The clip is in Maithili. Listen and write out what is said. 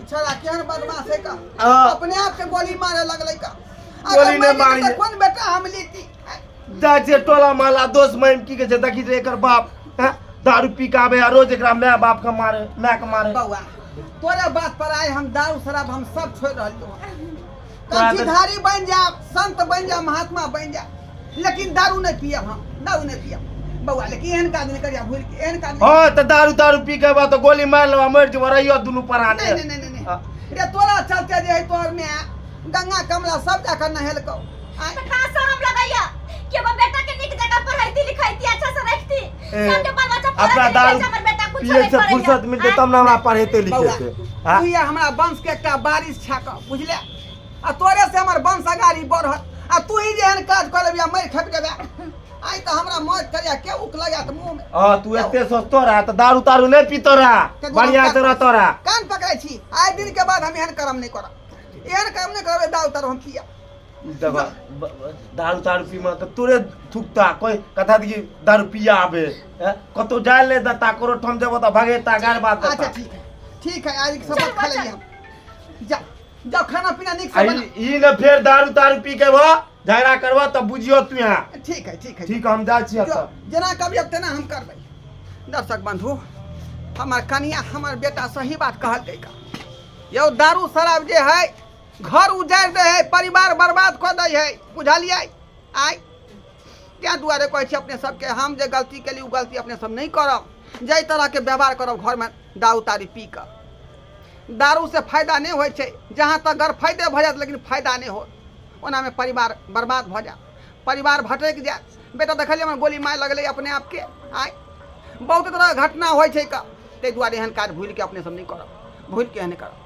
ई छोरा केहन बदमाश है का हाँ। अपने आप के गोली मारे लगले का गोली अगर नहीं मैं मारी। लेती तो कौन बेटा हम लेती दा जे टोला माला दोस्त महिम की के जे देखी जे एकर बाप हैं? दारू पी के आबे आ रोज एकरा माय बाप के मारे माय के मारे बउआ तोरे बात पर आए हम दारू शराब हम सब छोड़ रहलियो तो तोरा तऽ- भिखारी बनि जायब संत बनि जायब महात्मा बनि जायब लेकिन दारू नहि पियब हम दारू नहि पियब बौआ लेकिन एहन काज नहि करिया भूल के एहन काज नहि हँ तऽ दारू तारू पी के बा तऽ गोली मारि लेबा मरि जेबा रहियो दुनू प्राण नहीं, नहीं, नहीं, नहीं, नहीं। रे तोरा चलते जे है तोहर में गंगा कमला सब जाकर नहेलकौ अपना दारू पिए से फुर्सत मिलते तब ना हमरा पढ़ेते लिखेते तू ये हमरा वंश के एकटा बारिश छाक बुझले आ तोरे से हमर वंश अगाड़ी बढ़त आ तू ही जेहन काज कर लेबिया मर खप जेबे आई त हमरा मौत करिया के उक लगा त मुंह में हां तू एते सस्तो रहा त दारू तारू नै पीतो रहा बढ़िया से रहतो रहा कान पकड़ै छी आइ दिन के बाद हम एहन कर्म नै करब एहन कर्म नै करबे दारू तारू हम पिया देखो ब- ब- दारू तारू पी मार तोरे थुकता कोई कथा दी दारू पिया आबे हैं? कतो जाए ले दता करो ठम देबो त भागे ता गार बात अच्छा देता ठीक है ठीक है आज सबक खा लेंगे हम जा जाओ खाना पीना निक से आई बना ई न फेर दारू तारू पी के भा झगड़ा करबा त बुझियो तू यहाँ ठीक है ठीक है ठीक हम जा छिया जो त जना कभी अब तेना हम करबै दर्शक बंधु हमर कनिया हमर बेटा सही बात कहलकै का यौ दारू शराब जे है घर उजारि दै है परिवार बर्बाद कऽ दै है बुझलियै आइ ताहि दुआरे कहै छी अपने सबके हम जे गलती केली ओ गलती अपने सब नहि करब जाहि तरहके व्यवहार करब घरमे दारू तारी पी कऽ दारूसँ फायदा नहि होइ छै जहाँ तक गर फायदे भऽ जायत लेकिन फायदा नहि हो ओनामे परिवार बर्बाद भऽ जायत परिवार भटकि जायत बेटा देखलियै हमर गोली मारि लगलै अपने आपके आइ बहुत तरहके घटना होइ छै ताहि दुआरे एहन काज भूलि कऽ अपने सब नहि करब भूलि कऽ एहन करब